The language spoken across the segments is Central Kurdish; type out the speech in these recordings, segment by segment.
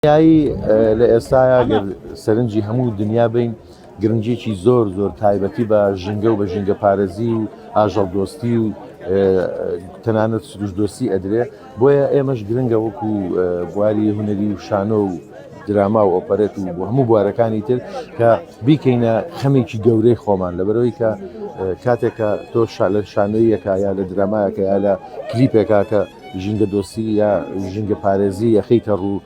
دنیایی لە ئێستایا گەر سەرنجی هەموو دنیا بین گرنجێکی زۆر زۆر تایبەتی بە ژینگە و بە ژینگە پارێزی و ئاژەڵ دۆستی و تەنانەت سروش دۆستی ئەدرێ بۆیە ئێمەش گرنگە وەکو بواری هوەری و شانۆ و دراما و ئۆپەرێت و بۆ هەموو بوارەکانی تر کە بیکەینە خەمێکی گەورەی خۆمان لەبەرەوەی کە کاتێکە تۆ شالە شانۆیەکە یا لە درامایەکە یا لە کلیپێکاکە ژینگە دۆستی یا ژینگە پارێزی یەخیتە ڕوو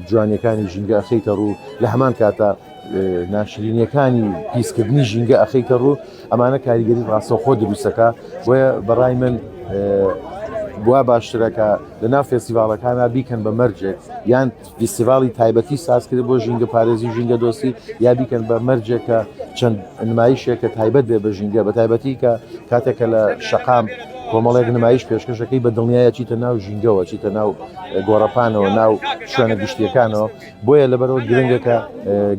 جوانیەکانی ژینگە ئەخیتە ڕوو لە هەمان کاتە ناشرینەکانی پیسکردنی ژینگە ئەخیتە ڕوو ئەمانە کاریگەری ڕاستەخۆ دروستەکە بۆیە بەڕای من بوا باشترەکە لە ناو فێستیڤالەکانە بیکەن بە مەرجێک یان فیستیڤاڵی تایبەتی سازکرێت بۆ ژینگەپارێزی و ژینگەدۆستی یا بیکەن بە مەرجێک کە چەند نمایشێک کە تایبەت بێ بە ژینگە بە تایبەتی کە کاتێکە لە شەقام کۆمەڵێک نمایش پێشکەشەکەی بە دڵنیایە چیتە ناو ژینگەوە چیتە ناو گۆڕەپانەوە ناو شوێنە گشتیەکانەوە بۆیە لەبەرەوە گرنگەکە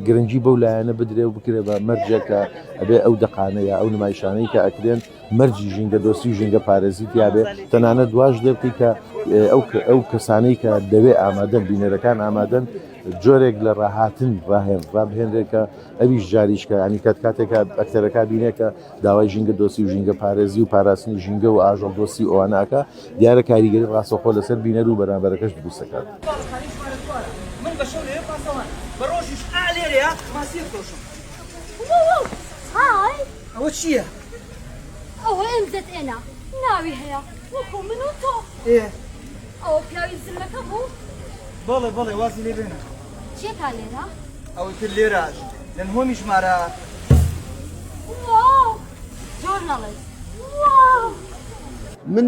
گرنگی بەو لایەنە بدرێ و بکرێت بە مەرجێکە ئەبێ ئەو دەقانەیە ئەو نمایشانەی کە ئەکرێن مەرجی ژینگەدۆستی و ژینگەپارێزی تیابێ تەنانەت دواش لێبکەی کە ئەو کەسانەی کە دەوێ ئامادەن بینەرەکان ئامادەن جۆرێک لە ڕاهاتن ڕاهێن ڕابهێنرێکە ئەویش جاریشکە ینی کات کاتێکە ئەکتەرەکە بینێکە داوای ژینگە دۆسی و ژینگە پارێزی و پاراستنی ژینگە و ئاژەڵ دۆسی ئەواناکە دیارە کاریگەری ڕاستەخۆ لەسەر بینەر و بەرامبەرەکەش دروستەکات. ئەوە چییە؟ ئەوە ئێم زەد ئێنە ناوی هەیە وەکو من و تۆ. ئێ. ئەوە پیاوی زلمەکە بوو؟ بەڵێ بەڵێ وازی لێ بێنە. چیەکا لێرە؟ ئەوەی کرد لێرەش لە نهۆمی ژمارە. واو زۆر نەڵێ واو. من